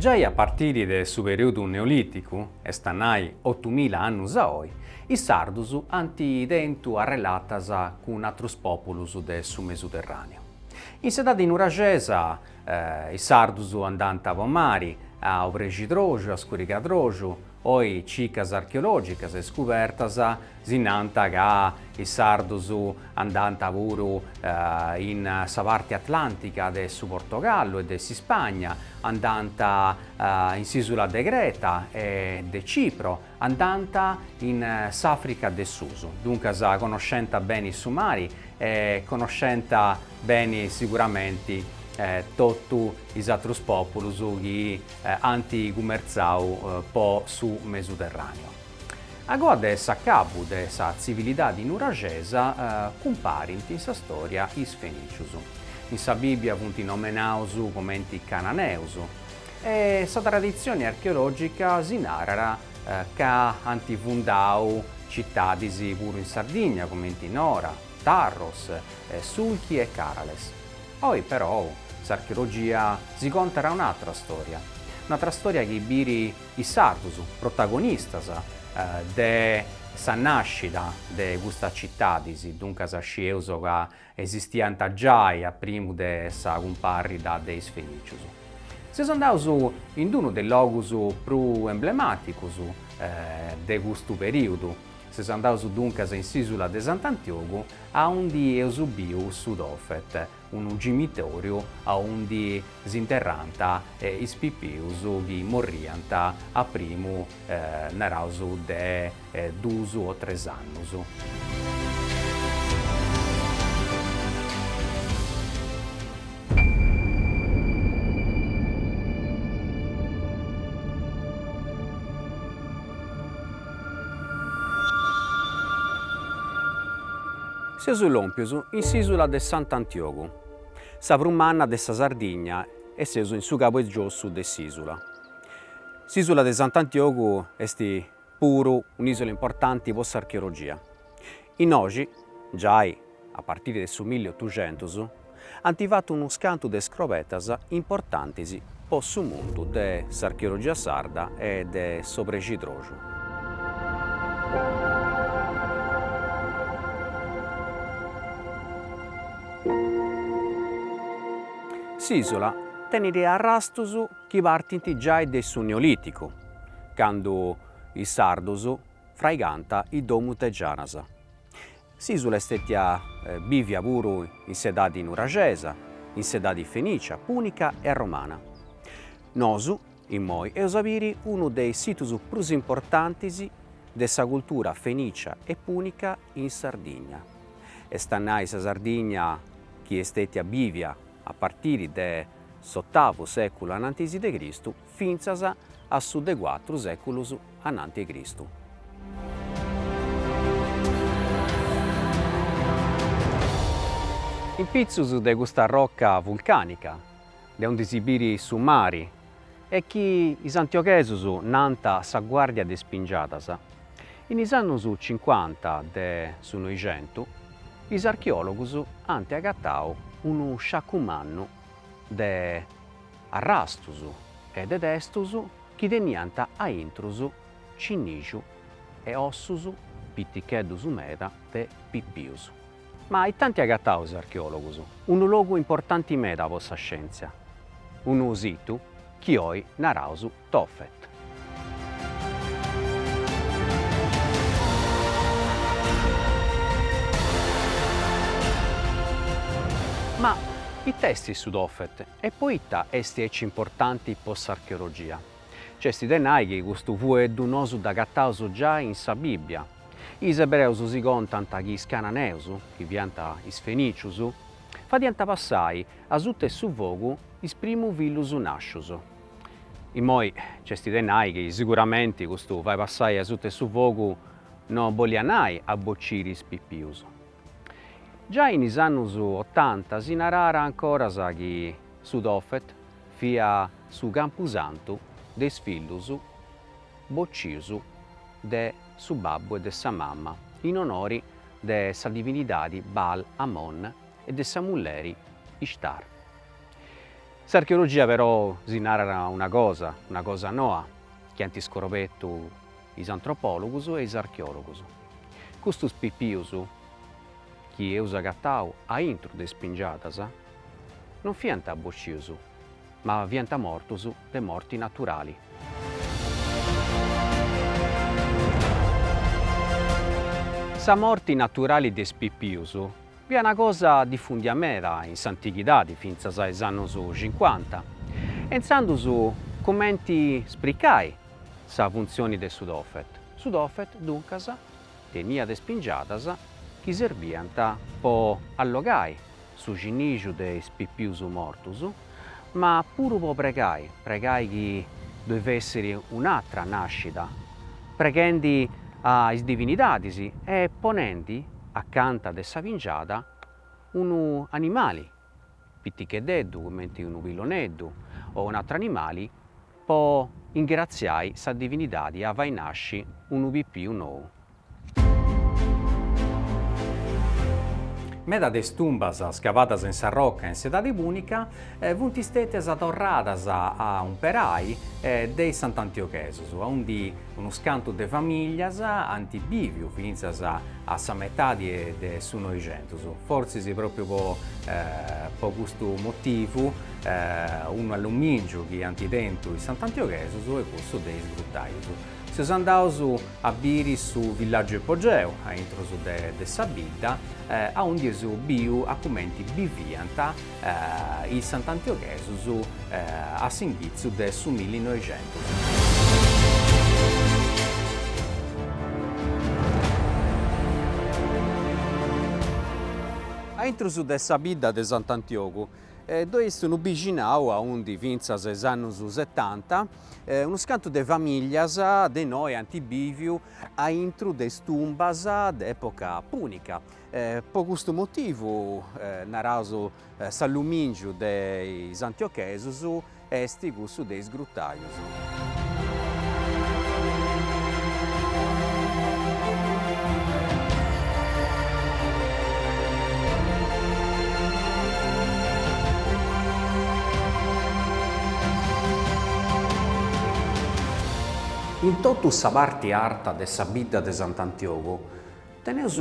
Giai a partiri de su perìodu neolìticu, est a nai otumila annus a oi, is sardus ant tentu arrelatas cun atrus pòpulus de su Mesuterràneu. In s'edadi nuraxesa, is sardus andànt po mari, a Obrexidroxu, a Scurigadroxu, Oi cicas archeològicas e scubertas si nant ca is sardus andànt puru in sa parti atlàntica de su Portogallu e de s'Ispagna, andànt in s'ìsula de Creta e de Cipro, andànt in s'Àfrica de susu. Duncas conoscent beni su mari e conoscent beni siguramenti totu is atrus pòpulus chi ant cumertzau po su Mesuterràneu. A goa de s'acabu de sa tzivilidadi nuraxesa cumparint in sa stòria is Fenìcius. In sa Bìbbia funt nomenaus comenti Cananeus e sa traditzioni archeològica si narat ca ant fundau citadis puru in Sardigna, comenti Nora, Tarros, Sulchi e Carales. Oi perou s'archeologia si contat un'atra stòria, un'atra stòria chi biri is sardus protagonistas de sa nàscida de custas citadis, duncas scieus ca esistiant giai a primu de sa cumparrida de is Fenìcius. Seus andaus in unu de is logus prus emblemàticus de custu perìudu, Seus andaus duncas in s'ìsula de Sant'Antiogu aundi eus biu su Tophet, unu cimitòriu aundi si interrànt is pipius chi morriant a primu, naraus, de duus o tres annus. Seus lòmpius in s'ìsula de Sant'Antiogu, sa prus manna de sa Sardigna e seus in su cabu 'e giossu de s'ìsula. S'ìsula de Sant'Antiogu est puru un'ìsula importanti pro s'archeologia. Innoxi, giai a partiri de su milli otuxentus, ant fatu unu scantu de scrobetas importantis po su mundu de s'archeologia sarda e de s'obrexidroxu. S'ìsula tenit arrastus chi partint giai de su Neolìticu, candu is sardus fraigant is domus de gianas. S'ìsula est stètia bìvia puru in s'edadi nuraxesa, in s'edadi fenìcia, pùnica e romana. Nosu, immoi, eus a biri unu de is situs prus importantis de sa cultura fenìcia e pùnica in Sardigna, est a nai sa Sardigna chi est stètia bìvia a partiri de s'otavu sèculu anantis de Cristu, fintzas a su de cuatru sèculus ananti 'e Cristu. In pitzus de custa roca vulcànica, de unde si birit su mari e chi is antioghesus nant sa Guàrdia de is Pingiadas, in is annus cincuanta de su Noixentu is archeòlogus ant agatau unu sciacu mannu de arrastus e de testus chi teniant a intrus cinnixu e ossus piticheddus meda de pipius. Ma ita ant agatau is archeologus unu logu importanti meda po sa scientzia, unu situ chi oi naraus Tophet. Ma ita est su Tophet e poita est aici importanti po s'archeologia? Nc'est de nai chi custu fueddu nosu dd'agataus giai in sa Bibbia. Is ebreus si contant chi is cananeus, chi fiant is fenicius, fadiant passai asuta 'e su fogu is primu fillus nascius. Immoi nc'est de nai chi siguramenti custu fai passai asut'e su fogu no boliat nai a bociri is pipius. Giai in is annus otanta si naràra ancoras chi su Tophet fia su campusantu de is fillus bocius de su babbu e de sa mama in onori de sa divinidadi Baal Ammon e de sa mulleri Ishtar. S'archeologia però si narat una cosa, una cosa noa, chi ant iscorobetu is antropòlogus e is archeòlogus. Custus pipius chi eus agatau a intru de is pingiadas non fiant bocius, ma fiant mortus de morti naturali. Sa morti naturali de is pipius fiat una cosa difundia meda in s'antighidadi fintzas a is annus cincuanta e intzandus cumenti spricai sa funtzioni de su Tophet. Su Tophet, duncas, teniat is pingiadas chi serbiant po allogai su cinnixu de is pipius mortus, ma puru po pregai, pregai chi ddoi fessiri un'atra nascida, preghendi a is divinidadis e ponendi acanta de sa pingiada unu animali piticheddeddu cumenti unu pilloneddu o un'atru animali po ingratziai sa divinidadi e a fai nasci unu pipiu nou Meda de is tumbas scavadas in sa roca in s'Edadi Pùnica funt stètias torradas a umperai de is sant'antioghesus, aundi unus cantus de famìlias ant bìviu fintzas a sa metadi de su Noixentus. Fortzis pròpriu po custu motivu, unu allumìngiu chi ant tentu is sant'antioghesus est cussu de is grutaius. Seus andaus a biri su villàgiu ipogeu, a intrus de sa bidda, aundi eus biu a cumenti biviant is sant'antioghesus a s'inghitzu de su milli noixentus. A intrus de sa bidda de Sant'Antiogu ddoi est unu bixinau aundi fintzas a is annus setanta unus cantus de famìlias de inoi ant bìviu a intru de is tumbas de època pùnica. Pro custu motivu, naraus s'allumìngiu de is antiochesus, est cussu de is grutàius. In totu sa parti arta de sa bidda de Sant'Antiogu teneus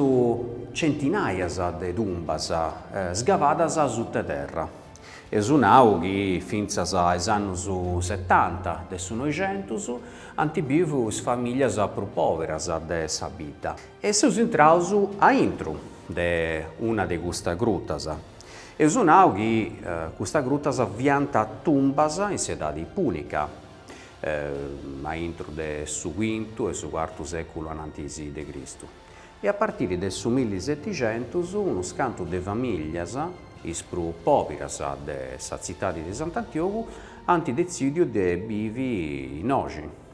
centinàias de tumbas scavadas suta terra. Eus nau chi fintzas a is annus setanta de su Noixentus ant bivu is famìlias prus pòberas de sa bidda e seus intraus a intru de una de custas grutas, Eus nau chi custas grutas fiant tumbas in s'edadi pùnica, a intro de su quintu e su cuartu sèculu anantis de Cristu, e a partiri de su millisetixentus unus cantus de famìlias, is prus pòbiras de sa tzitadi de Sant'Antiogu, ant detzìdiu de bivi innoxi.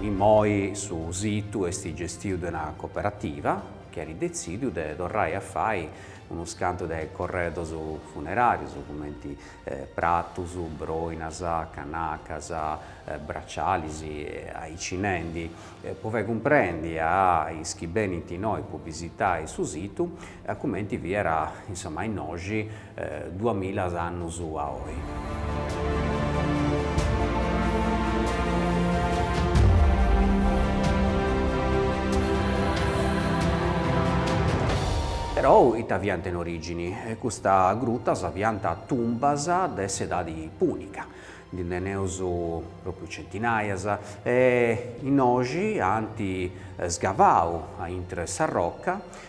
Immoi su situ est gestiu de una cooperativa chi at detzìdiu de torrai a fai unus cantus de corredos funeràrios, cumenti pratus, broinas, canacas, bracialis e aici nendi. Po fai cumprendi a is chi benint innoi po bisitai su situ, A cumenti fiat insoma innoxi duas milas annus a oi. Perou ita fiant in origini? Custa grutas fiant tumbas de s'edadi punica, ndi teneus propriu centinaias, e innoxi ant sgavau a intr'e sa roca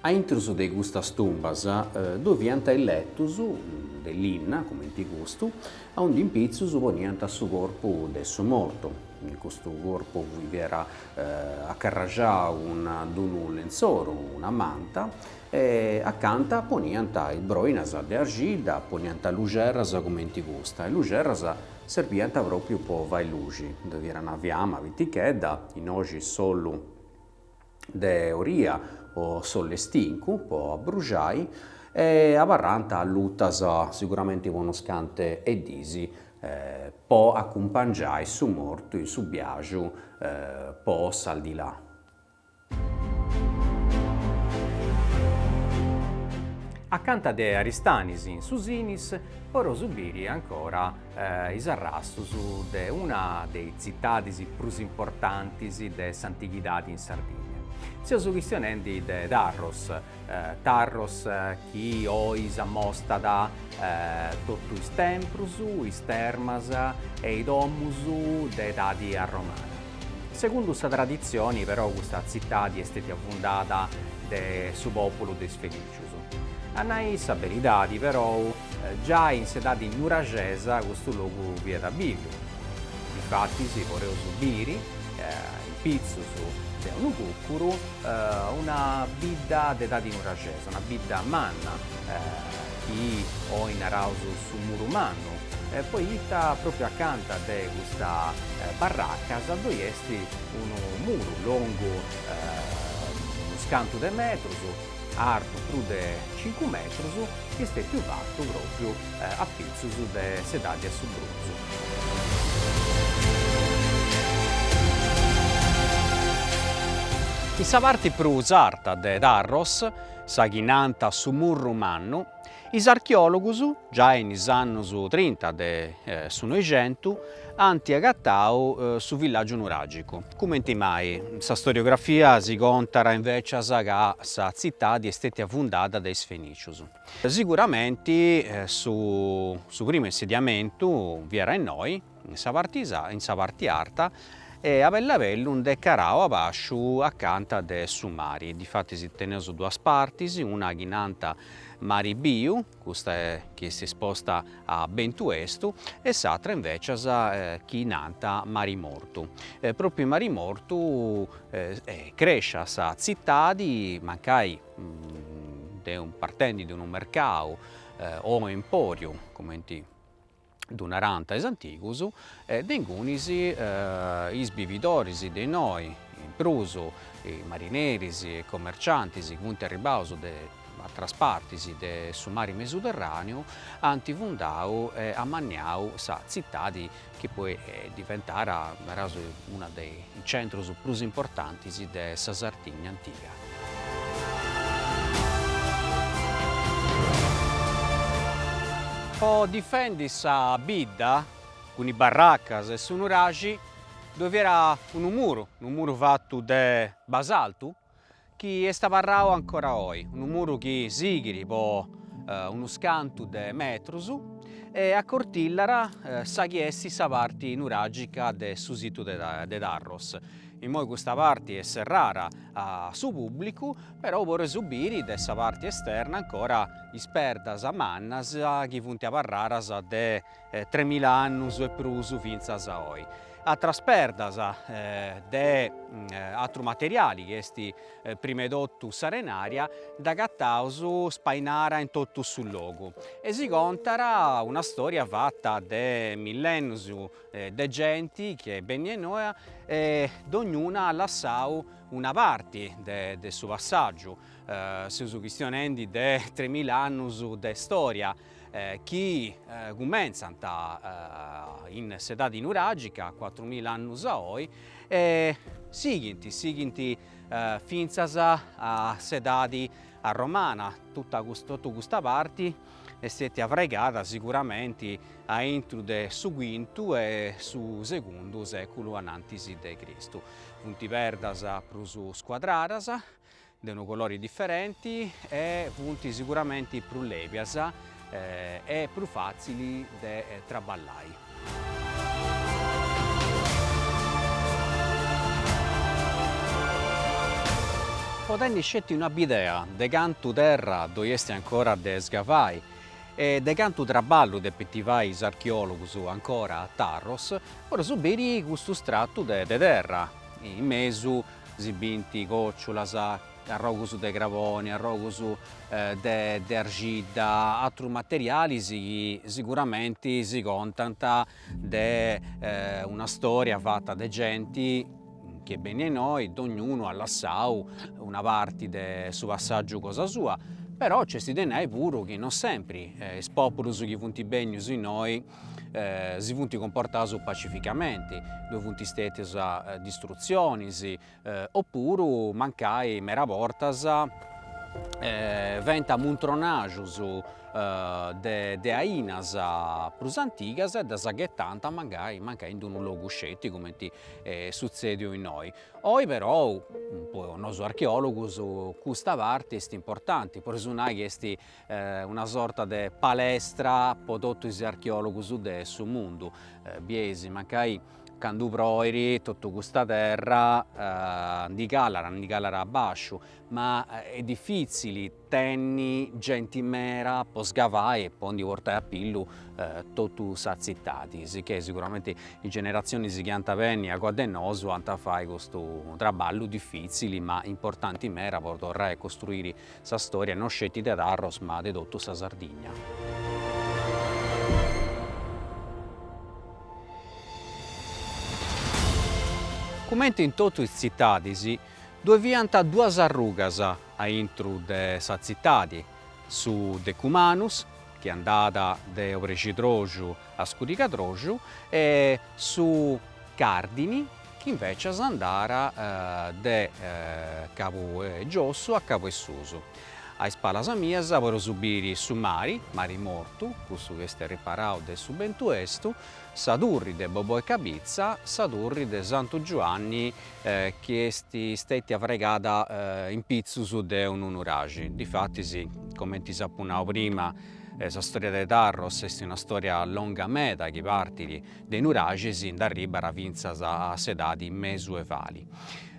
A intrus de custas tumbas ddoe fiant is letus de linna, cumenti custu, aundi in pitzus poniant su corpu de su mortu. Custu corpu fiat acarraxau cun unu lentzoru, una manta, e acanta poniant is broinas de arxidda, poniant luxerras cumenti custa. Is luxerras serbiant pròpriu po fai luxi, ddoe fiat una fiama pitichedda, innoxi s'ollu de oria o s'ollestincu po abruxai e abarrànt allutas siguramenti po unas cantu 'e dis po acumpangiai su mortu in su biaxu po s'aldilà. Acanta de Aristanis in su Sinis poreus biri ancora is arrastus de una de is tzitadis prus importantis de s'antighidadi in Sardigna. Seus chistionendi de Tarros, Tarros chi oi s'amostat totu is templus, is termas e is domus de edadi arromana. Segundu sa traditzioni però custa tzitadi est stetia fundada de su pòpulu de is Fenicius. A nai sa beridadi, perou, giai in s'edadi nuraxesa custu logu fiat biviu. Difatis podeus biri, in pitzus de unu cucuru, una bidda de edadi nuraxesa, una bidda manna, chi oi naraus su Muru Mannu, poita pròpriu acanta de custa barracas ddoi est unu muru longu unus cantu de metrus, artu prus de cincu metrus, chi est stètiu fatu pròpriu a pitzus de s'edadi 'e su bronzu. In sa parti prus arta de Tharros, sa chi nant su Murru Mannu, Is archeòlogus, giai in is annus trinta de su Noixentu, ant agatau su villàgiu nuràgicu. Cumenti mai, sa storiografia si contat invècias ca sa tzitadi est stètia fundada de is Fenìcius. Siguramenti su primu insediamentu fiat innoi. in sa parte in sa parte arta e a bellu a bellu nd'est calau a basciu acanta de su mari, difatis teneus duas partis, una chi nant Mari Biu, custa chi est isposta a bentu 'estu, e s'atra invecias chi nant Mari Mortu, e propriu in Mari Mortu crescit sa tzitadi mancai de partendi de unu mercadu o emporiu, cumenti ddu narant is antigus, de ingunis is bividoris de innoi, in prus marineris e commerciantis funt arribbaus de atteras partis de su mari Mediterraneu, ant fundau e amanniau sa zittadi chi poi diventat, naraus, unu de is centrus prus importantis de sa Sardigna antiga. Po difendi sa bidda, cun is barracas e su nuraxi, ddoi fiat unu muru, unu muru fatu de basaltu, chi est abarrau ancora oi, unu muru chi sighit po unus cantu de metrus e acortillat sa chi est sa parti nuragica de su situ de Tarros. Immoi custa parte est serrada a su pùblicu, però podeus biri de sa parte esterna ancora is perdas mannas chi funt abarradas de tremila annus e prus fintzas a oi. Atras perdas de atru materiali chi est prima 'e totu s'arenària dd'agataus spainada in totu su logu e si contat una stòria fata de millennus de genti chi benit innoi e dognuna at lassau una parti de su passàgiu, seus chistionendi de tremila annus de storia chi cumentzant in s'edadi nuràgica, cuatrumila annus a oi, e sighint, sighint fintzas a s'edadi romana, totu custa parti est istètia afrigada siguramenti a intro de su quintu e su segundu seculu anantis de Cristu. Funt perdas prus scuadradas, de unu colori diferenti e funt siguramenti prus lebias e prus fatzili de traballai. Po tenni sceti una bidea de cantu terra ddoi esti ancora de scavai e de cantu traballu depint fai is archeologus ancora a tarros, podeus biri custu stratu de terra, in mesu si bint còciulas, arrogus de craboni, arrogus de arxidda, atrus materialis chi siguramenti si contant de una storia fata de genti chi est bennia innoi, dognunu at lassau una parti de su passaggiu cosa sua, però nc'est de nai puru chi non sempri is populus chi funt bennius innoi si funt cumportaus pacificamenti, ddoi funt stètius distrutzionis O puru mancai mera bortas fiant muntronaxus de ainas prus antigas e ddas ghetant mancai in d-unu logu sceti coment'est sutzediu innoi. Oi però po nosu archeologus custa parte est importanti pro si nai chi est una sorta de palestra po totu is archeòlogus de su mundu, bieis mancai candu proit totu custa terra ndi calat, ndi calat a bàsciu, ma est difìtzili tenni genti mera po scavai e po ndi portai a pillu totu sa tzitadi, sicchè siguramenti is generatzionis chi ant a benni agoa de nosu ant a fai custu traballu difìtzili ma importanti meda pro torrai a costruiri Sa storia no sceti de Tharros ma de totu sa Sardigna. Cumenti e in totu is tzitadis, ddue fiant duas arrugas a intru de sa tzitadi, su Decumanus, chi andat de obrescidroxu a scurigadroxu, e su Cardini, Chi invècias andat de cabu 'e giossu a cabu 'e susu, a is palas mias, podeus biri su mari, mari mortu, custu chi est riparau de su bentu 'estu, sa turri de Boboi Cabitza, sa turri de Santu Giuanni chi est stètia fraigada in pitzus de unu nuraxi. Difatis, comenti s'apu nau prima, sa storia de Tarros est una storia longa meda chi partit De is nuraxis i arribat fintzas a s'edadi mesuevali.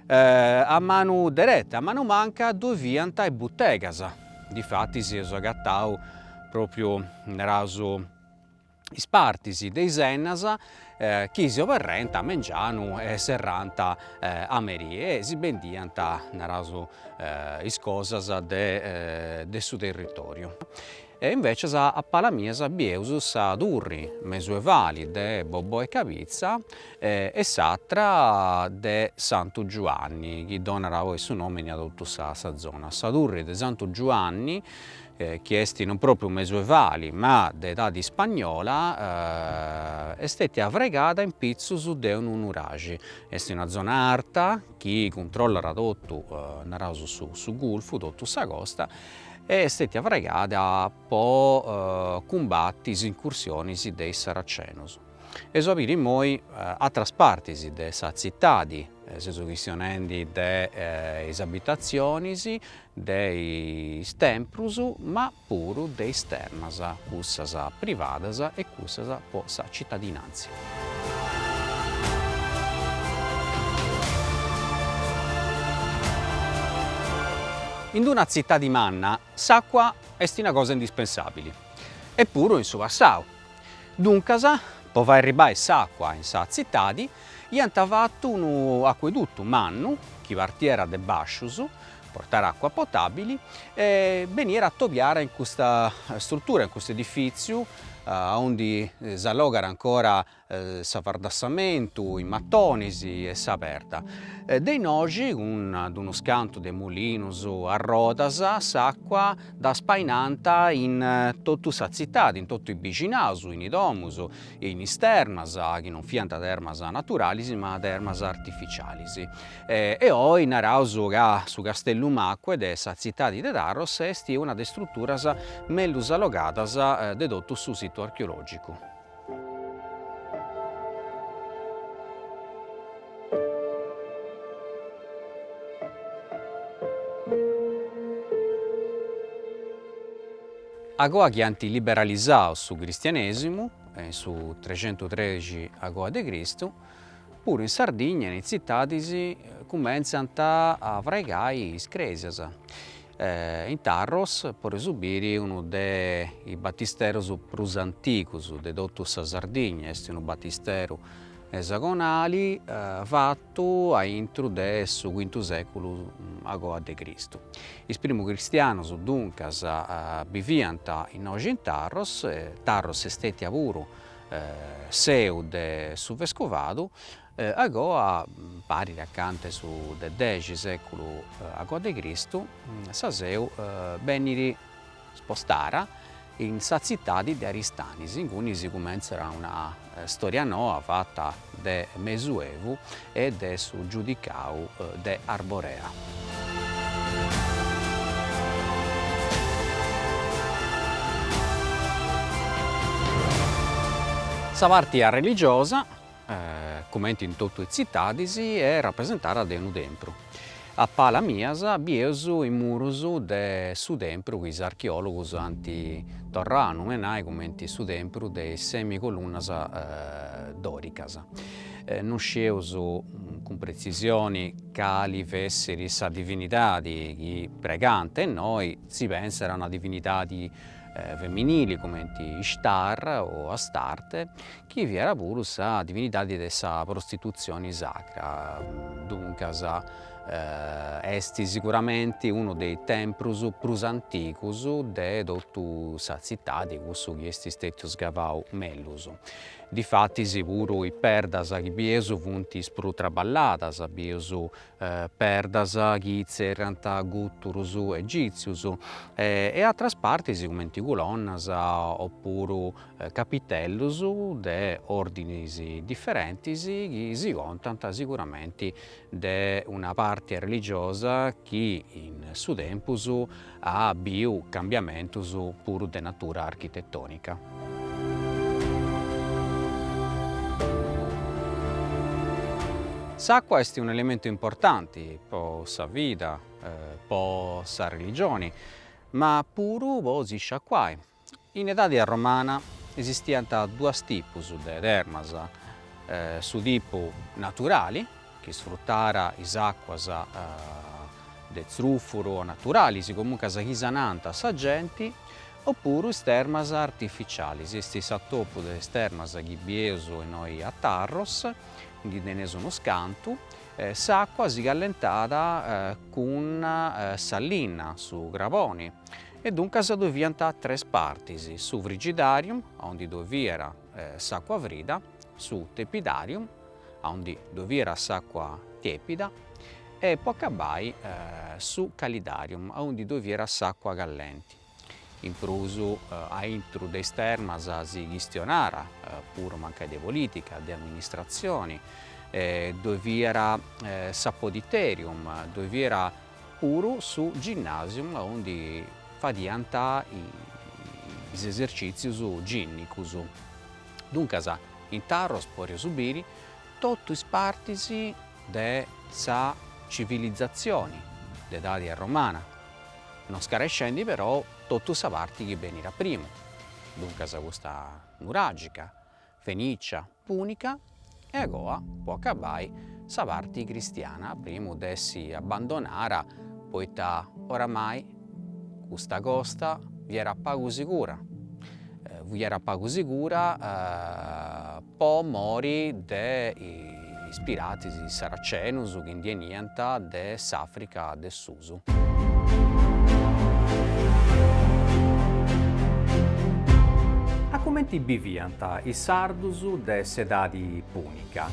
A manu dereta, a manu manca ddoi fiant is butegas, difatis eus agatau propriu, naraus, is partis de is ennas chi si oberriant a mengianu e serrànt a merì e si bendiant, naraus, is cosas de su territoriu. E invècias a palas mias bieus sa turri mesuevali de Bobò 'e Cabitza e s'atra de Santu Giuanni chi donat oi su nòmini a totu sa zona. Sa turri de Santu Giuanni chi est non pròpriu mesuevali ma de edadi ispagnola est stètia fraigada in pitzus de unu nuraxi. Est una zona arta chi cuntrollat totu naraus su gulfu, totu sa costa est stètia fraigada po cumbati is incursionis de is Saracenos e seus a biri immoi atras partis de sa tzitadi, seus chistionendi de is abitatzionis, de is templus, ma puru de is termas, cussas privadas e cussas po sa citadinantzia. In d-una tzitadi manna s'àcua est una cosa indispensàbili, e puru in su passau. Duncas, po fai arribbai s'àcua in sa tzitadi, iant fatu unu acueduttu mannu chi partiat de bàscius, portàt acua potabili e beniat a atobiai in custa struttura, in custu edifìtziu, aundi s'allogat ancora s'afardassamentu in matonis e sa perda. De innoxi, cun unus cantu de mulinus a rodas, s'acua dda spainant in totu sa tzitadi, in totu is bixinaus, in is domus e in is termas, chi non fiant termas naturalis ma termas artificialis. E oi naraus ca su Castellum Aquae de sa tzitadi de Tarros esti una de is struturas mellus allogadas de totu su situ archeologicu. Agoa chi anti liberalizau su cristianesimu, in su trecentu trexi agoa de Cristu, Puru in Sardigna in is tzitadis cumentzant a fraigai is crèsias. In Tharros podeus biri unu de is batisterus prus antigus de totu sa Sardigna, est unu batisteru esagonali fatu a intru de su cuintu sèculu agoa de Cristu. Is primus cristianus duncas biviant innoxi in Tharros, Tharros est stètia puru seu de su vescovadu agoa parit acanta 'e su de dexi seculu agoa de Cristu sa seu benit spostada in sa tzitadi de Aristanis, inguni si cumentzat una storia noa fata de Mesuevu e de su Giudicau de Arborea. Sa parti religiosa, cumenti in totu is tzitadis, est rapresentada de unu tempru. A palas mias bieus is murus de su tempru chi is archeòlogus ant torrau a numenai cumenti su tempru de is semi colunnas dòricas. No scieus cun pretzisioni cali fessiri sa divinidadi chi pregànt innoi, si pensat a una divinidadi feminili cumenti Ishtar o Astarte, chi fiat puru sa divinidadi de sa prostitutzioni sacra, duncas est siguramenti unu de is temprus prus antigus de totu sa tzitadi, cussu chi est stetiu scavau mellus. Difatis puru is perdas chi bieus funt is prus traballadas, bieus perdas chi tzerriant guturus egitzius e atras partis cumenti culonnas opuru Capitellus de ordinis differentis chi si contant siguramenti de una parti religiosa chi in su tempus at biu cambiamentus puru de natura architetonica. S'acqua est un elementu importanti po sa vida, po sa religioni ma puru po si sciacuai In edadi arromana esistiant duas tipus de termas, su tipu naturali, chi isfrutàt is àcuas de tzrùfuru o naturalis, comuncas chi sanant sa genti, opuru is termas artificialis, est s'atopu de is termas chi bieus innoi a Tarros, ndi teneus unus cantu, s'àcua si callentàt cun sa linna, su craboni, e duncas ddoe fiant tres partis, su frigidarium, a ondi ddoe fiat s'àcua frida, su tepidarium, a ondi ddoe fiat s'àcua tèpida, e po acabai su calidarium, a ondi ddoe fiat s'àcua callenti. In prus, a intro de is termas si chistionàt puru mancai de polìtica, de amministratzioni, ddoe fiat s'apoditerium, ddoe fiat puru su ginnasium aundi fadiant is esercìtzius gìnnicus, duncas in Tharros podeus biri totu is partis de sa civilizatzioni de edadi arromana, no scarescendi però totu sa parti chi benit a prima, duncas custa nuràgica, Fenìcia, Pùnica e agoa po acabai sa parti cristiana a primu de essi abbandonara poita oramai custa costa fiera pagu sigura fiera pagu sigura po mori de is piratis saracenus chi ndi 'eniant de s'Africa de su A cumenti biviant is sardus de s'edadi pùnica?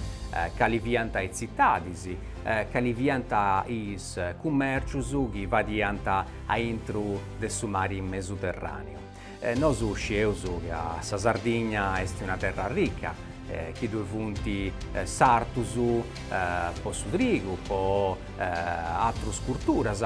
Cali fiant is tzitadis? Cali fiant is cumèrcius chi fadiant aintru de su mari Mesuterràneu? Nosu scieus ca sa Sardigna est una terra rica, chi ddoi funt sartus po su trigu, po atrus curturas,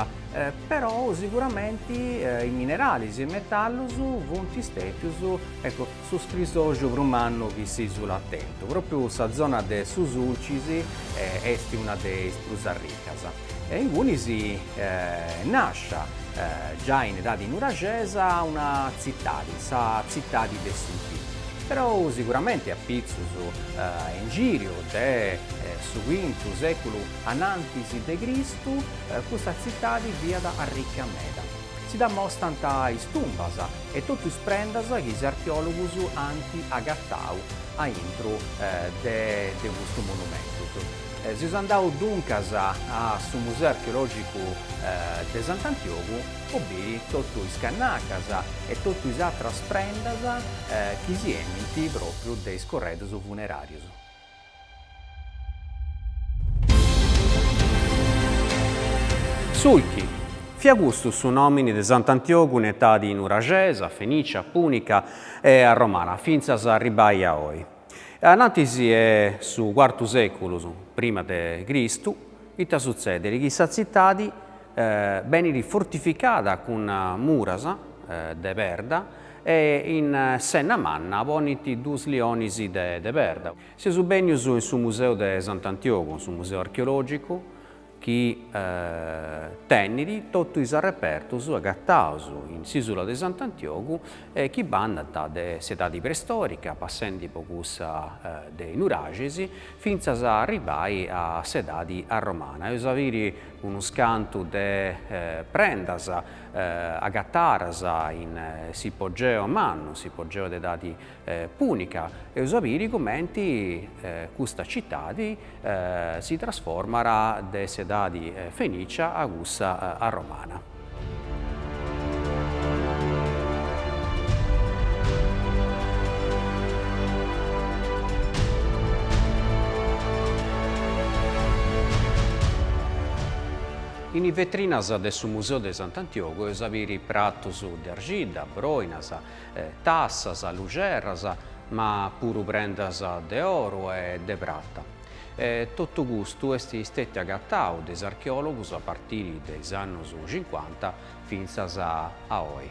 perou siguramenti is mineralis e is metallus funt stètius, ecco, su scrisoxu prus mannu chi s'isula at tentu. Propriu sa zona de su Sulcis est una de is prus arricas. E ingunis nasciat, giai in edadi nuraxesa, una tzitadi, sa tzitadi de Sulci. Perou siguramenti a pitzus in giriu de su quintu seculu anantis de Cristu custa tzitadi fiat arricca meda. Si dd'amostant is tumbas e totu is prendas chi is archeòlogus ant agatau aintru de custus monumentus. Seus andaus duncas a su Museu Archeològicu de Sant'Antiogu po biri totu is cannacas e totu is atras prendas chi si 'enint pròpriu de is corredus funeràrius. Sulchi, fiat custu su nòmini de Sant'Antiogu in etadi nuraxesa, fenìcia, pùnica e romana, fintzas a arribbai a oi. Anantis 'e su cuartu seculu prima de Cristu, ita sutzediri chi sa tzitadi beniri fortificada cun muras de perda e in s'enna manna ponint duus lionis de perda. Seus bènnius in su museu de Sant'Antiogu, su museu archeologicu, chi tenit totu is arrepertus agataus in s'isula de Sant'Antiogu e chi bandant de s'edadi preistorica, passendi po cussa de is nuraxis, fintzas a arribbai a s'edadi arromana. Eus a biri unus cantu de prendas agatadas in s'ipogeu mannu, s'ipogeu de edadi pùnica, eus a biri cumenti custa citadi si trasformat de s'edadi fenìcia a cussa arromana. In is vetrinas de su Museu de Sant'Antiogu eus a biri pratus de arxidda, broinas, tassas, luxerras, ma puru prendas de oru e de prata. E totu custu est stètiu agatau de is archeòlogus a partiri de is annus cincuanta fintzas a oi.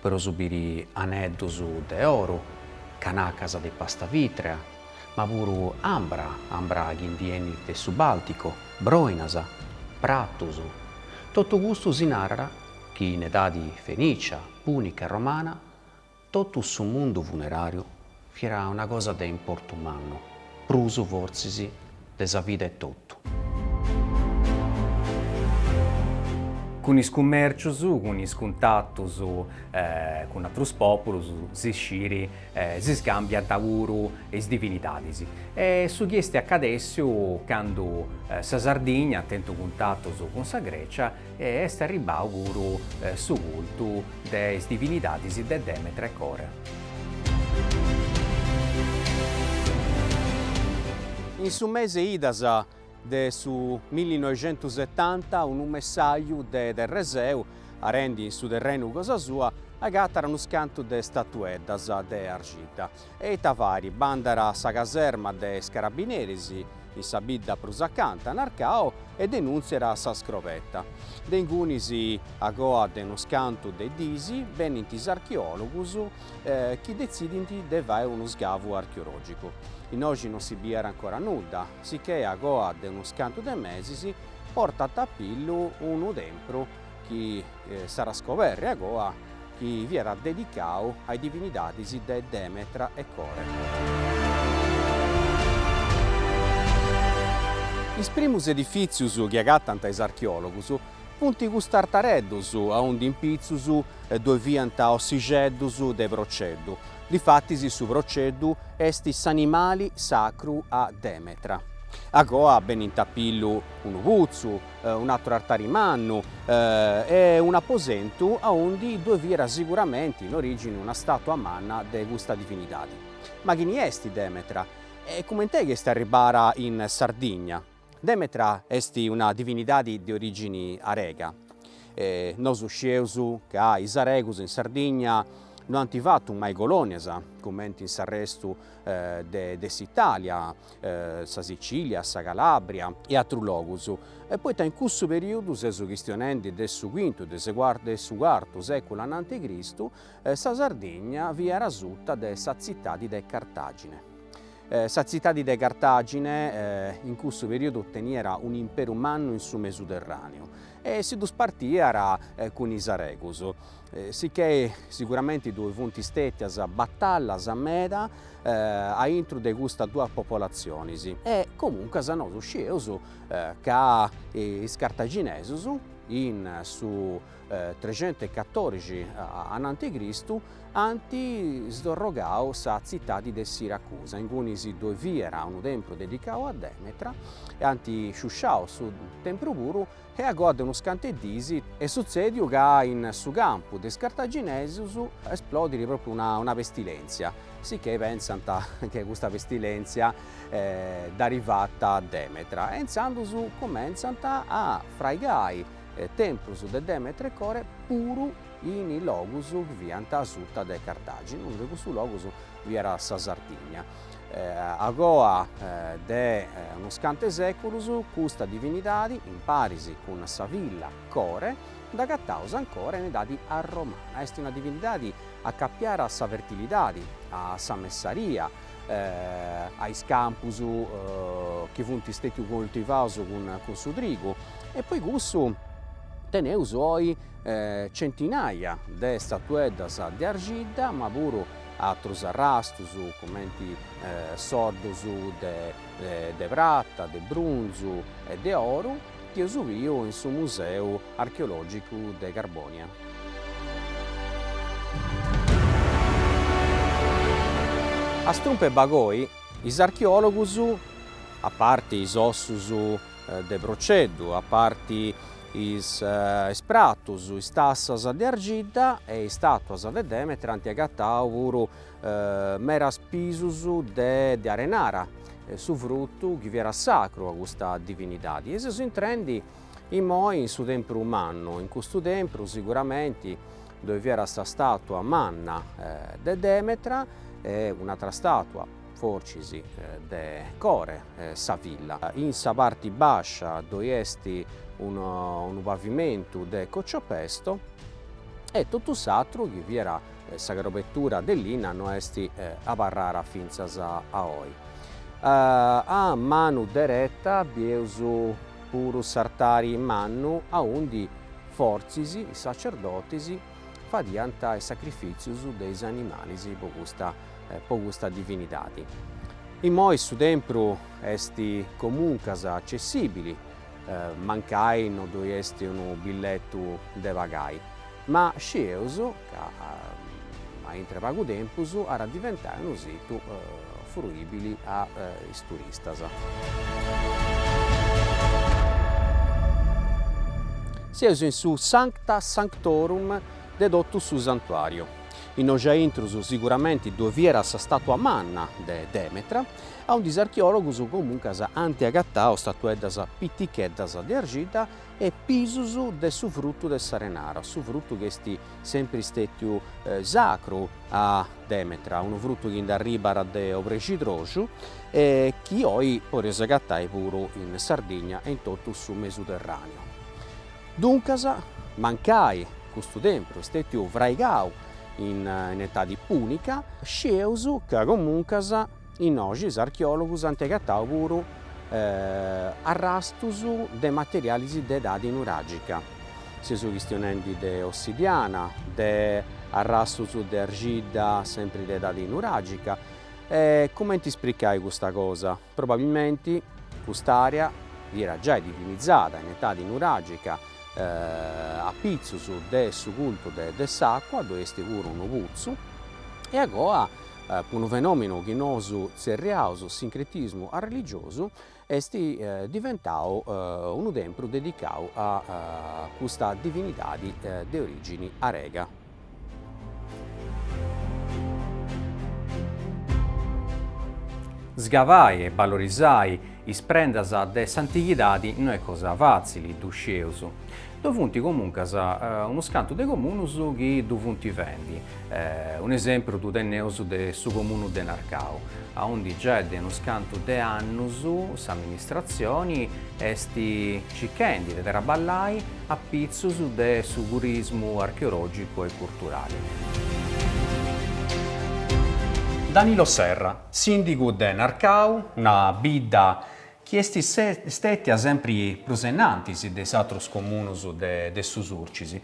Podeus biri aneddus de oru, canacas de pasta vitrea, ma puru ambra, ambra chi ndi 'enit de su Bàlticu, broinas, pratus, totu custu si narat chi in edadi fenìcia, pùnica e romana totu su mundu funeràriu Fiat una cosa de importu mannu, prus fortzis de sa vida etotu. Cun is cummèrcius, cun is cuntatus cun atrus pòpulus, si scit, si scàmbiant puru is divinidadis. E su chi est acadèssiu candu sa Sardigna tenit cuntatus cun sa Grècia E est arribbau puru su cultu de is divinidadis de Demetra e Core. In su mesi de idas de su millinoixentusetanta unu messaju de Terreseu, arendi in su terrenu cosa sua, agatat unus cantu de statueddas de arxidda. E ita fait, bandat a sa caserma de is carabineris, in sa bidda prus acanta, Narcau e denùntziat sa scroberta. De ingunis a coa de unus cantu de dis, benint is archeòlogus chi detzidint de fai unu sgavu archeològicu. Innoxi non si biiat ancora nudda, sichè a coa de unus cantu de mesis portant a pillu unu tempru chi s'at a scoberri agoa chi fiat dedicadu a is divinidadis de Demetra e Core. Is primus edifìtzius chi agatant is archeòlogus funt custus artareddus aundi in pitzus ddoi fiant ossijeddus de proceddu, difatis su proceddu est s'animali sacru a Demetra. A goa benint a pillu unu putzu, un'àteru artari mannu e un'aposentu aundi ddue fiat siguramenti in origini una statua manna de custa divinidadi. Ma chini est Demetra? E cumenti est chi est arribbara in Sardigna? Demetra est una divinidadi de origini arega. Nosu scieus ca is aregus in Sardigna no ant fatu mai colonias cumenti in s'arrestu de s'Italia, sa Sicilia, sa Calabria e atrus logus, poita in cussu periodu, seus chistionendi de su quintu e de su cartu seculu ananti Cristu, sa Sardigna fiat asuta de sa tzitadi de Cartagine. Sa tzitadi de Cartagine in cussu periodu teniat un'imperu mannu in su Mesuterraneu, e si ddus partiat cun is aregus. Sicchè siguramente ddoe funt stètias batallas meda a intro de custas duas popolatzionis e comuncas nosu scieus ca is cartaginesus in su trexentu e catorixi ananti Cristu ant sdorrogau sa tzitadi de Siracusa, ingunis ddoi fiera unu tempru dedicau a Demetra, e ant sciusciau su tempru puru, e agoa de unus cantu 'e dis est sutzediu ca in su campu de is cartaginesus esplodiri propriu una pestilèntzia, sicchè pentzant che custa pestilèntzia dd'arit fata Demetra, e intzandus cumentzant a fraigai temprus de Demetra e Core puru in is logus chi fiant asuta de Cartagine, unu de cussus logus fiat sa Sardigna. A goa de unus cantu 'e seculus custa divinidadi, imparis cun sa filla Core, dd'agataus ancora in edadi arromana. Est una divinidadi acapiada a sa fertilidadi, a sa messaria, a is campus chi funt stetius coltivaus cun su trigu e po cussu teneus oi centinaia de statueddas de argidda, ma puru atrus arrastus cumenti soddus de prata, de brunzu e de oru chi eus biu in su Museu archeologicu de Carbonia. A Strumpu 'e Bagoi is archeologus, a parti is ossus de proceddu, a parti is pratus, is tassas de argidda e is statuas de Demetra ant agatau puru meras pisus de arenara, su frutu chi fiat sacru a custa divinidadi. E seus intrendi immoi in su tempru mannu, in custu tempru siguramenti ddoi fiat sa statua manna de Demetra e un'atra statua fortzis de Core, sa filla. In sa parti bàscia ddoi est unu pavimentu de cociopesto e totu s'atru, chi fiat sa crobetura de linna, no est abarrara fintzas a oi. A manu dereta bieus puru s'artari mannu aundi fortzis is sacerdotis fadiant is sacrifìtzius de is animalis po custa po custa divinidadi. Immoi su tempru est comuncas accessibili, mancai non ddoi est unu billetu de pagai, ma scieus ca a intre pagu tempus at a diventai unu situ fruibili a is turistas. Sieus in su Sancta Sanctorum de totu su santuariu. Innoi a intrus siguramenti ddue fiat sa statua manna de Demetra, aundi is archeòlogus comuncas ant agatau statueddas piticheddas de arxidda e pisus de su frutu de s'arenara, su frutu chi est sempri stètiu sacru a Demetra, unu frutu chi nd'arribat de obrexidroxu e chi oi podeus agatai puru in Sardigna e in totu su Mesuterràneu. Duncas, mancai custu tempru stètiu fraigau in etadi pùnica, scieus ca comuncas innoi is archeòlogus ant agatau puru arrastus de materialis de edadi nuràgica, seus chistionendi de ossidiana, de arrastus de arxidda, sempri de edadi nuràgica. E comenti ispricai custa cosa? Probabilmenti cust'àrea fiat giai divinizada in etadi nuràgica a pitzus de su cultu de s'àcua, ddoi est puru unu putzu, e agoa, po unu fenòmenu chi nosu tzerriaus sincretismu arreligiosu, est diventau unu tempru dedicau a custa divinidadi de orìgini arega. Sgavai e balorizai is prendas de s'antighidadi no est cosa fàtzili, ddu scieus. Ddoi funt comuncas unus cantu de comunus chi ddu funt fendi. Un'esempru ddu teneus de su comunu de Narcau, aundi giai de unus cantu de annus s'amministratzioni est, circhendi de traballai a pitzus de su turismu archeologicu e curturali. Danilo Serra, sìndigu de Narcau, una bidda chi est stètia sempri prus ennantis de is atrus comunus de su Surcis.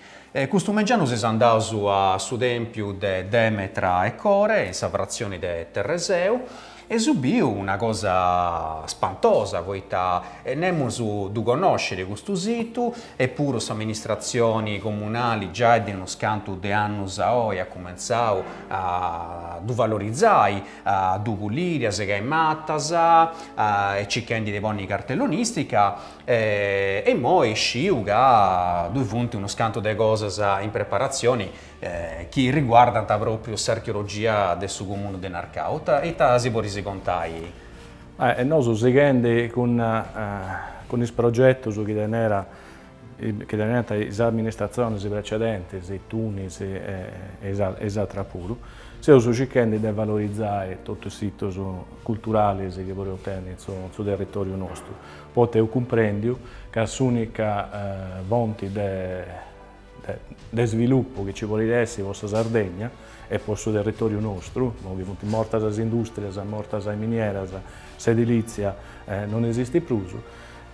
Custu mengianu seus andaus a su tèmpiu de Demetra e Core, in sa fratzioni de Terreseu. E seu biu una cosa spantosa poita nemus ddu connoscit custu situ, epuru s'amministratzioni comunali giai de unus cantu de annus a oi at cumentzau a ddu valorizai, a ddu puliri, a segai matas e circhendi de ponni cartellonistica e imoi sciu ca ddoi funt unus cantu de cosas in preparatzioni chi riguardant pròpiu s'archeologia de su comunu de Narcau. Ita ita si podis contai? E nosu sighendi cun cun is progetus chi tenera chi teneant is amministratzionis precedentis, Tunis e e is atras puru, seus circhendi de valorizai totu is situs culturalis chi podeus tenni in su in su territòriu nostru, poita eus cumprendiu ca s'ùnica fonti de de svilupu chi nci podit essi po sa Sardegna e po su territoriu nostru, imoi chi funt mortas is industrias, mortas is minieras, s'edilitzia non esistit prus,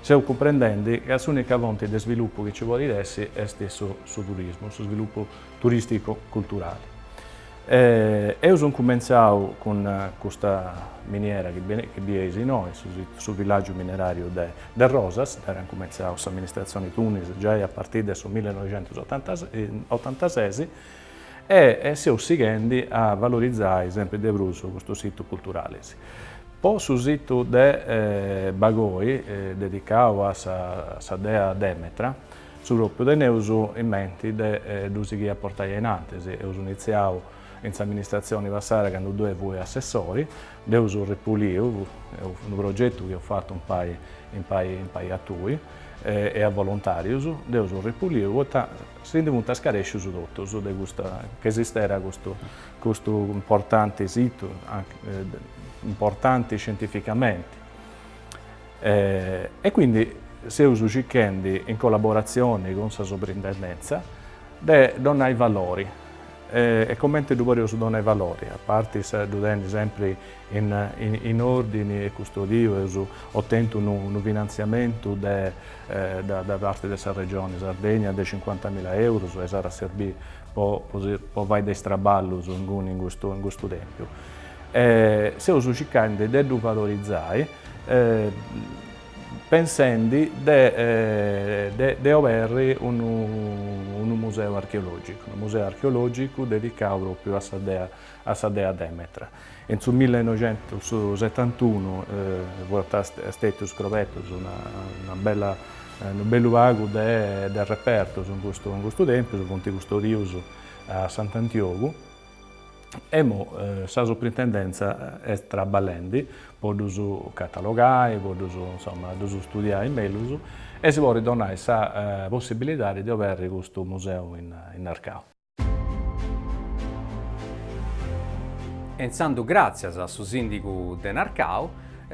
seus cumprendendi ca s'unica fonti de svilupu chi nci podit essi est su turismu, su svilupu turisticu culturali. E eus incumentzau cun custa miniera chi bieis innoi, su villàgiu mineràriu de Rosas, dd'aiant incumentzau s'amministratzioni Tunis giai a partiri de su millinoixentusotantases, e seus sighendi a valorizai sempri de prus custus situs culturalis. Po su situ de Bagoi, dedicau a sa dea Demetra, Su pròpiu teneus in menti de ddu sighiri a portai ainantis. Eus initziau in s'amministratzioni passada candu ddoi fui assessori, dd'eus ripuliu, unu progetu chi eus fatu impari a tui e a volontàrius, dd'eus ripuliu poita si ndi funt scarescius totus de custa, ca esistera custu custu importanti situ, importanti scientificamenti. E quindi seus circhendi, in collaboratzioni cun sa Suprintendèntzia, de donai valori. E comenti ddu podeus donai valori, a parti de ddu tenni sempri in òrdini e custodiu, eus otentu unu finantziamentu de da parti de sa Regioni Sardegna de cincuantamila eurus e s'ant a serbiri po fai de is traballus inguni in custu tempiu. E seus circhendi de ddu valorizai. pensendi de oberri unu museu archeologicu, unu museu archeologicu dedicau propriu a sa dea a sa dea Demetra. In su millinoixentusettantunu fuant stetius scobertus una una bella unu bellu pagu de de repertus in custu in custu tèmpiu, funt custodius a Sant'Antiogu, Imoi sa Suprintendentza est traballendi po ddus catalogai, po ddus, insoma, ddus studiai mellus e si podit donai sa possibilidadi de oberri custu museu in Narcau. E intzandus gràtzias a su Sìndigu de Narcau,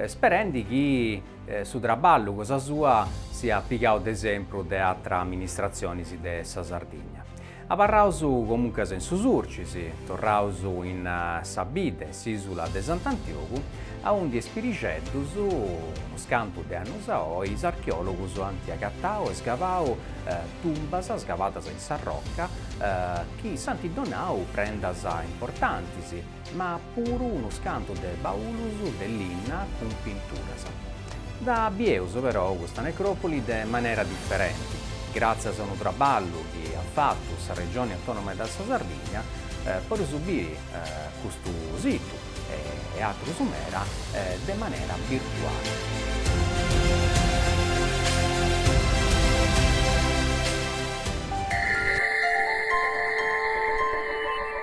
sperendi chi su traballu cosa sua siat pigau de esempru de atras amministratzionis de sa Sardigna. Abarraus comunques in su Sulcis, torraus in sa bidda in s'ìsula de Sant'Antiogu, aundi in Is Pirixeddus, unus cantu de annus a oi, is archeòlogus ant agatau e sgavau tumbas sgavadas in s'arroca chi s'ant donau prendas importantis, ma puru unus cantu de baulus de linna cun pinturas. Dda bieus però custa necròpoli de manera diferenti, gràtzias a unu traballu chi at fatu sa Regioni Autònoma de sa Sardigna, podeus biri custu situ e atrus meda de manera virtuali.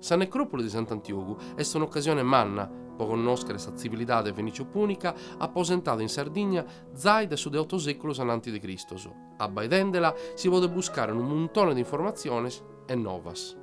Sa necròpoli de Sant'Antiogu est un'ocasione manna pro connòschere sa tzivilidade fenìcio-pùnica aposentada in Sardigna zai dae su de oto sèculos a nante de Cristos. Abbaidende-la si podet buscare unu muntone de informatziones e novas.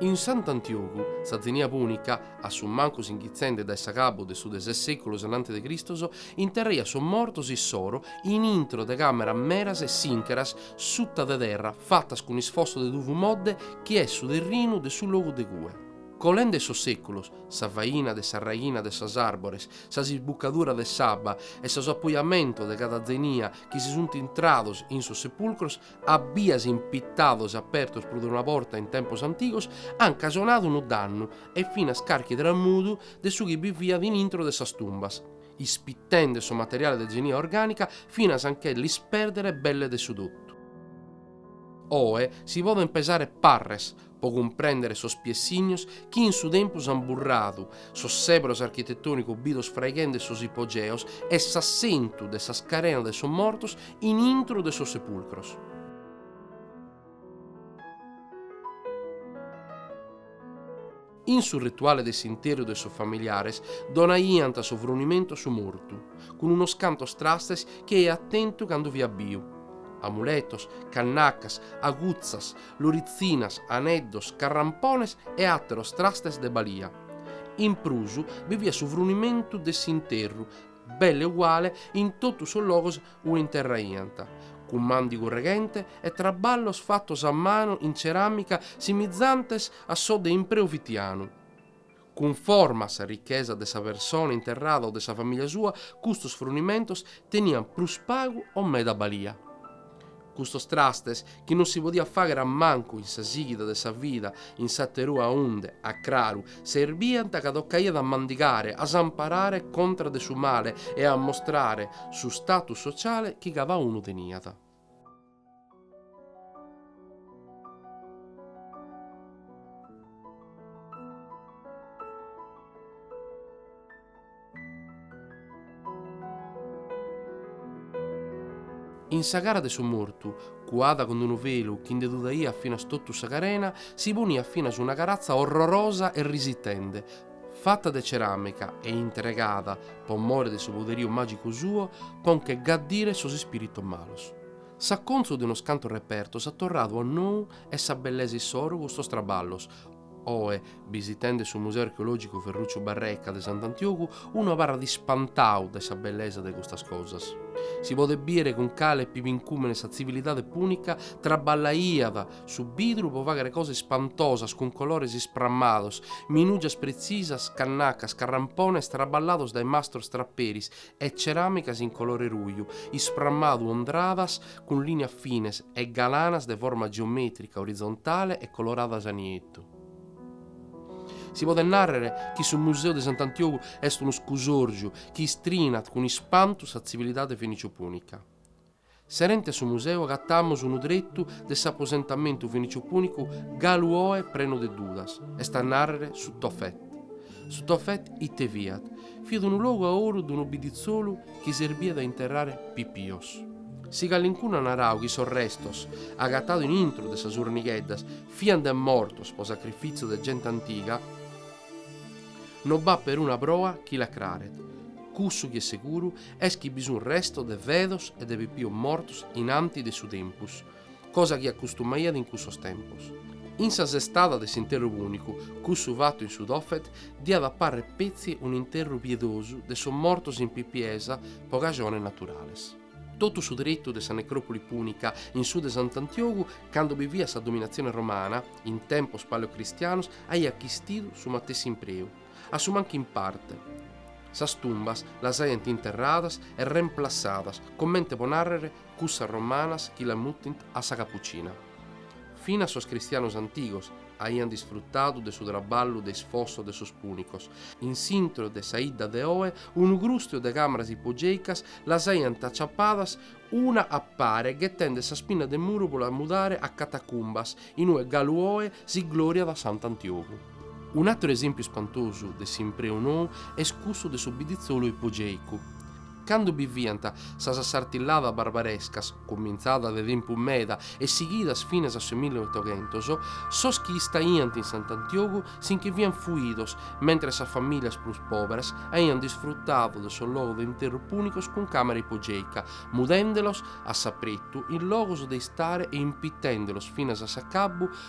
In Sant'Antiogu, sa tzenia pùnica, a su mancu inghitzende dae s'agabbu de su de ses sèculos a nante de Cristos, interraiat sos mortos issoro in intro de càmeras meras e sìncheras suta de terra, fatas cun isfossos de tuvu modde chi est su terrinu de su logu de cue, colende sos seculos, sa faina de sa raighina de sas àrbores, s'isbucadura de s'abba e sos apoiamentos de cada zenia chi si che sunt intrados in sos sepulcros a bias impittados apertos prus de una borta in tempos antigos, ant casionadu unu dannu e finas carchi tramudu de su chi bi fiat in intro de sas tumbas. ispitende su materiale de genia orgànica finas a nche l'ispèrdere belle de su totu. Oe si podent pesare parres pro cumprèndere sos piessignos chi in su tempus ant burradu sos sèberos architetònicos bidos fraighende sos ipogeos e s'assentu de sas carenas de sos mortos in intro de sos sepulcros. In su rituale de s'interru de sos familiares donaiant su frunimentu a su mortu, cun unos cantos trastes chi aiat tentu cando fiat biu, amuletos, cannacas, agutzas, loritzinas, aneddos, carrampones e àteros trastes de balia. In prus bi fiat su frunimentu de s'interru belle uguale in totu sos logos ue interraiant, cun màndigu reghente e traballos fatos a manu in ceràmica simizantes a sos de impreu fitianu, cunforma a sa richesa de sa persone interrada o de sa famìlia sua, custos frunimentos teniant prus pagu o meda balia. Custos trastes, chi non si podiat fàghere a mancu in sa sìghida de sa vida in s'aterue, unde, a craru, serbiant ca tocaiat a mandigare, a s'amparare contra de su male e a mostrare su status sociale chi cada unu teniat. In sa cara de su mortu, cuada cun unu velu chi nde tudaiat finas totu sa carena, si poniat finas una caratza orrorosa e risitende, fata de ceràmica e intregada, po more de su poderiu màgicu suo, po nche gaddire sos ispìritos malos. S'acontzu de unos cantos repertos at torradu a nou, in sa bellesa issoro custos traballos, Oe, bisitende su Museu Archeològicu Ferruccio Barreca de Sant'Antiogu, unu abarrat ispantau dae sa bellesa de custas cosas. Si podet bìere cun cale pibincùmene sa tzivilidade pùnica traballaiat su bidru pro fàghere cosas ispantosas cun colores isprammados, minùgias pretzisas, cannacas, carrampones traballados dae mastros traperis e ceràmicas in colore ruju isprammadu, ondradas cun lìnias fines e galanas de forma geomètrica orizontale e coloradas a nietu. Si podet nàrrere chi su Museu de Sant'Antiogu est unu scusòrgiu chi istrinat cun ispantu sa tzivilidade feniciopùnica. Serente a su museu agatamus unu tretu de s'aposentamentu feniciopùnicu galu oe prenu de dudas, est a nàrrere su Tofet. Su Tofet ite fiat? Fiat unu logu a oru de unu bidditzolu chi serbiat a interrare pipios. Si calincunu at naradu chi sos restos, agatados in intro de sas urnigheddas, fiant de mortos pro sacrifìtziu de gente antiga, no b'at peruna proa chi l'acraret. Cussu chi est seguru est chi bi sunt restos de fedos e de pipios mortos in anti de su tempus, cosa chi acustumaiat in cussos tempos. In sa sestada de s'interru pùnicu, cussu fatu in su Tophet diat a parrer petzi un'interru piedosu de sos mortos in pipiesa pro cajones naturales. Totu su tretu de sa necròpoli pùnica in su de Sant'Antiogu, cando bi fiat sa dominatzione romana, in tempos paleocristianos, aiat chistidu su matessi impreu. a su mancu in parte. Sas tumbas las aiant interradas e remplassadas, comente po nàrrere cussas romanas chi las mutint a sa Capucina. Finas sos cristianos antigos aiant disfrutadu de su traballu de isfosso de sos pùnicos, in s'intro de sa 'idda de oe unu grùstiu de càmaras ipogèicas las aiant aciapadas una a pare ghetende s'ispina de muru pro las mudare a catacumbas in ue galu oe si glòriat Sant'Antiogu. Un'àteru esèmpiu ispantosu de s'impreu nou est cussu de su biditzolu ipogèicu. Cando bi fiant sas assartilladas barbarescas, cumintzadas de tempus meda e sighidas finas a su milli e otoghentos, sos chi istaiant in Sant'Antiogu si nche fiant fuidos, mentres sas famìlias prus pòberas aiant disfrutadu de sos logos de interru pùnicos cun càmera ipogèica, mudende-los a s'apretu in logos de istare e impitende-los finas a s'acabbu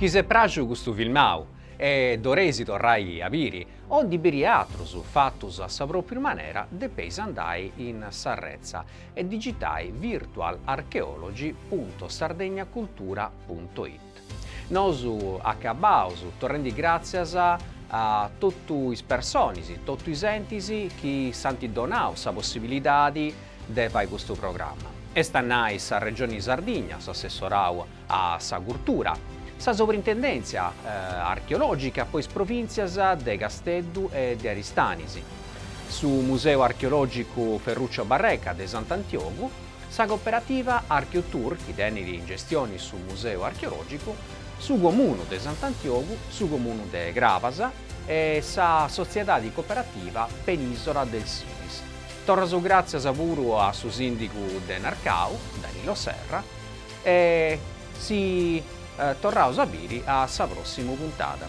Chi si est pràxiu custu filmau e ddu 'oleis torrai a biri, o ndi biri atrus fatus a sa pròpriu manera, depeis andai in s'arretza e digitai virtualarchaeology punto sardegnacultura punto it. Nosu acabaus torrendi gràtzias a totu is personis, totu is entis chi si ant donau sa possibilidadi de fai custu programma. Est a nai sa Regioni Sardigna, s'Assessorau a sa Curtura, sa Sobrintendèntzia archeològica po is provìntzias de Casteddu e de Aristanis, su Museu archeològicu Ferruccio Barreca de Sant'Antiogu, sa Cooperativa Archeotur chi tenit in gestioni su Museu Archeològicu, su Comunu de Sant'Antiogu, su Comunu de Crabas e sa Sotziedadi Cooperativa Penìsola del Sinis. Torraus gràtzias puru a su sìndigu de Narcau, Danilo Serra e si torraus a biri a sa pròssimu puntada.